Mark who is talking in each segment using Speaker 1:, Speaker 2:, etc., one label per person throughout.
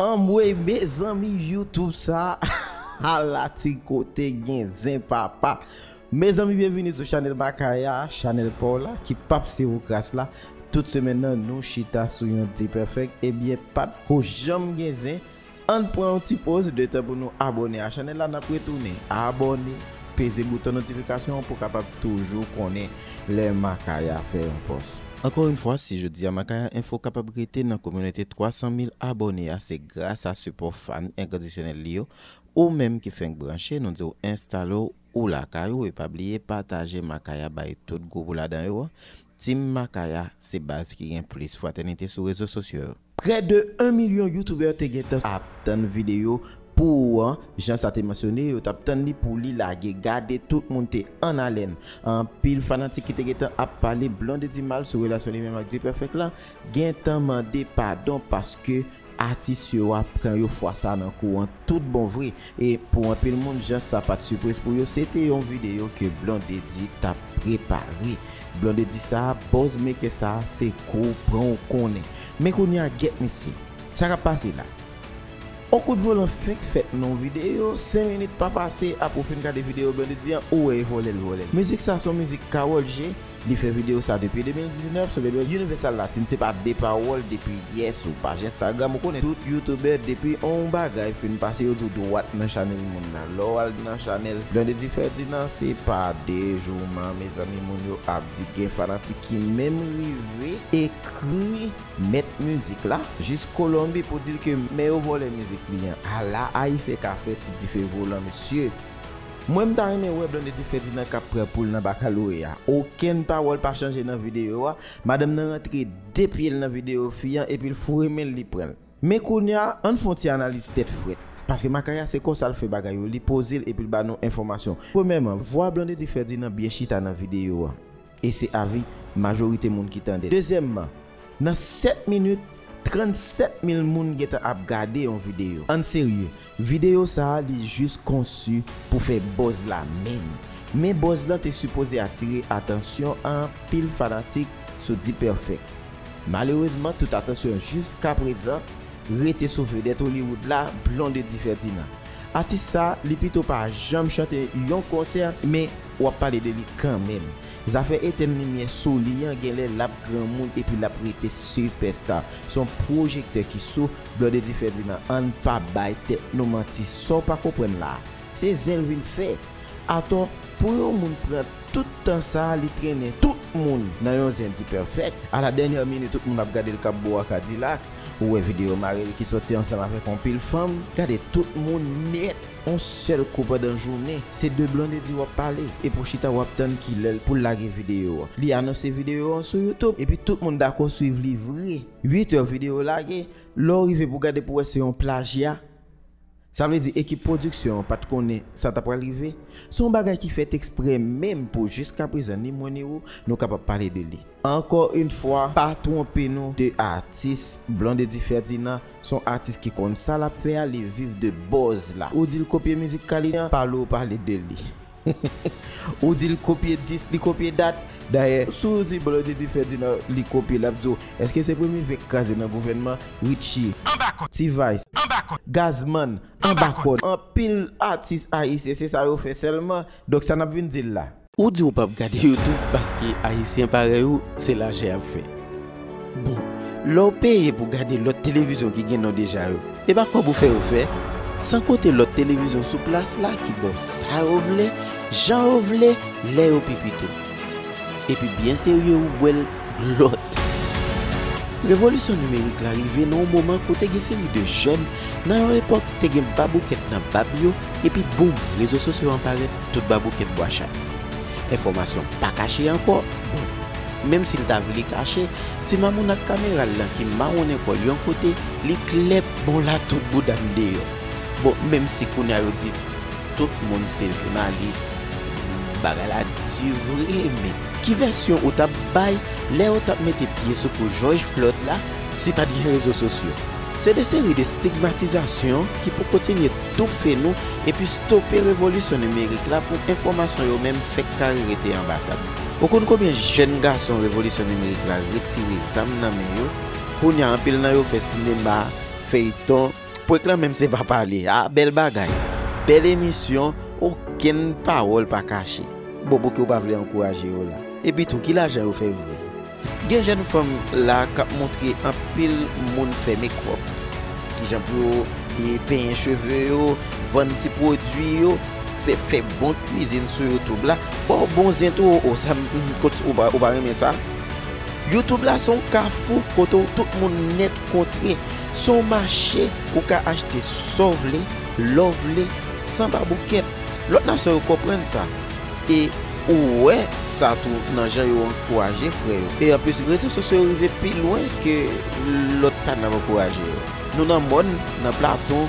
Speaker 1: Anmweyy mezanmi YouTube sa ala ti kote gen zen papa Mezanmi byenvini sou chanèl Makaya a chanèl paw la ki pap se ou kras la tout semèn nan nou chita sou yon dpèfèk ebyen pat ko janm gen zen ann pran yon ti poz de tan pou nou abòne a chanèl la nap retounen abòne peze bouton notifikasyon an pou kapab toujou konnen. lè Makaya fè yon pòs. Ankò yn fwa, si jodi a Makaya Info kapab rete nan kominote 300 mil abòne a se gras a sipò fan enkandisyonèl li yo, ou menm ki fenk branche nou di w enstale w ou lakay ou e pa bliye pataje Makaya bay tout gwoup ou ladan yo an, Team Makaya se baz ki gen plis fratènite sou rezo sosyo yo. Prè de 1 milyon YouTuber te gentan ap tann video pou ou an, jan sa te mansyone yo tap tann li pou li lage, gade tout moun te an alèn, anpil fanatik ki te gentan ap pale Blondedy mal sou relasyon li menm ak Dperfect la, gentan mande padon paske atis yo a pran yo fwa sa nan kou an tout bon vre. E pou anpil moun jan sa pat sipriz pou yo se te yon video ke Blondedy tap prepare. Blondedy sa, buzz maker sa se kou pran ou konnen. Men kounya get misye. Sa kap pase la? On kout volan fenk fèt nan yon video, 5 minit pa pase apre ou fin gade video Blondedy an ou wè e vòlè l vòlè l. Mizik sa son mizik Karol G Li fè video sa depi 2019 sou label Universal Latin se pa de pawòl depi yè sou paj Instagram ou konnen tout youtuber depi on bagay fin pase yo di w dwat nan chanèl moun nan lè w al nan chanèl Granddaddy Ferdinand se pa de jouman mezanmi moun yo ap di gen fanatik ki menm rive ekri mèt mizik la jis Colombie pou di l ke men yo vòlè mizik li an ala ayisyen ka fè ti dife volan mesye. Mwen m ta renmen wè Blondedy Ferdinand kap pran poul nan bakaloreya okenn pawòl pa chanje nan video a madanm nan rantre 2 pyel nan video fi an epil foure menl li pranl men kounya ann fon ti analiz tèt frèt paske makaya se konsal fè bagay yo li pozel epil ba nou enfòmasyon premyèman vwa Blondedy Ferdinand byen chita nan video a. E se avi majorite moun ki tande l. Dezyèmman, nan 7 minit, 37 mil moun gentan ap gade yon videyo. Ann serye, videyo sa a li jis konsi pou fè buzz la menm. Men buzz lan te sipoze atire atansyon anpil fanatik sou D-Perfect. Malerezman tout atansyon jiskaprezan rete sou vedèt Hollywood la, Blondedy Ferdinand. Atis sa a li pito pa janm chante yon konsè, men Ou ap pale de li kanmenm. Zafè etèn limyè sou li an genlè lap granmoun epi lap rete sipèsta. Son pwojektè ki sou Blondedy Ferdinand ann pa bay tèt nou manti Saw pa konprann la a se zen l vin fè atò pou yon moun pran tout tan sa a li trennen tout moun nan yon zen dipèfèk a la dènyè minit tout moun ap gade l kap bo a kadilak ou wè videyo mari l ki sòti ansanm avèk yon pil fanm gade tout moun nèt. On sèl kou pandan jounen, se de Blondedy wap pale, epi w chita wap tann kilèl poul lage video an. Li anonse video an sou YouTube, epi tout moun dakò swiv li vre. 8 heures video lage, lè w rive pou gade pou wè se yon plajya. Sa vle di ekip pwodiksyon an pat konnen sa ta pral rive. Se yon bagay ki fèt eksprè menm pou jiskaprezan ni mwen ni ou nou kapab pale de li. Ankò yn fwa pa twonpe nou de atis, Blondedy Ferdinand son atis ki konn sa lap fè a li viv de buzz la, ou dil kopye mizik Kalijan pale ou pale de li ou dil kopye dis li kopye dat, dayè si w di Blondedy Ferdinand li kopye lap di w eske se premye vè k kraze nan gouvènman Richie, T-vice, Gazzman, anba kòd, anpil atis ayisyen se sa yo fè sèlman, donk sa nap vin di l la. Ou di ou pap gade youtube paske ayisyen parèy ou se lajan yap fè bon lèw peye pou gade lòt televizyon ki gen non deja yo epa kòb ou fè yo fè san kote lòt televizyon sou plas la ki baw sa yo vle jan yo vle lè yo pi pito epi byen serye ou bwèl lòt revolisyon nimerik la rive nan yon moman kote gen seri de jèn nan yon epòk te gen baboukèt nan bab yo epi boom rezo sosyo an parèt. Tout babou ket bwa chat. Enfòmasyon pa kache ankò. Bon, menm si l ta vle kache, ti mamoun ak kamera l lan ki mawonnen kò l yon kote, li klè bon la tout bouda n deyò. Bon, menm si kounya yo di tout moun se jounalis, bagay la di vre men. Ki vèsyon ou t ap bay lè yo t ap mete pye sou kou Jòj Flòd la si pa t gen rezo sosyo? Se de seri de stigmatizasyon ki pou kontinye. toufe nou epi stope revolisyon nimerik la pou enfòmasyon yo menm fèk kare rete anba tab. Ou konn konbyen jèn gason revolisyon nimerik la retire zam nan men yo, kounye a anpil nan yo fè sinema, feyton, prank lan menm se pa pale, ah bèl bagay, bèl emisyon, okenn pawòl pa kache. Bon pouki ou pa vle ankouraje yo la? Epi tou ki lajan yo fè vre? Gen jèn fanm la kap montre anpil moun fè mekòp, kijan pou yo penyen cheve yo, vann ti pwodwi yo, fè bon kwizin sou youtube la, baw bon zen tou oo sa ou pa renmen sa? Youtube la son kafou kote tout moun nèt kontre, son mache ou ka achte saw vle, lèw vle, san baboukèt. Lòt nasyon yo konprann sa. E ou wè sa tou nan jan yo ankouraje frè yo. E anplis rezo sosyo yo rive pi lwen ke lòt sa n ap ankouraje yo. Nou nan mòn, nan platon,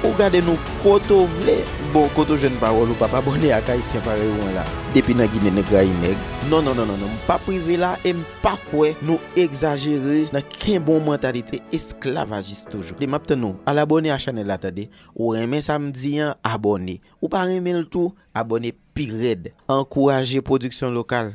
Speaker 1: ou gade nou kote ou vle. Bon, kote ou jwenn pawòl ou p ap abòne ak Ayisyen parèy ou an la? Depi nan Ginen nèg rayi nèg. Non, non, non, non, m p ap rive la e m pa kwè nou egzajere nan kenbe yon mantalite esklavajis toujou. M ap tann ou al abòne a chanèl la tande. Ou renmen sa m di an, abòne. Ou pa renmen l tou abone pi red. Ankouraje pwodiksyon lokal.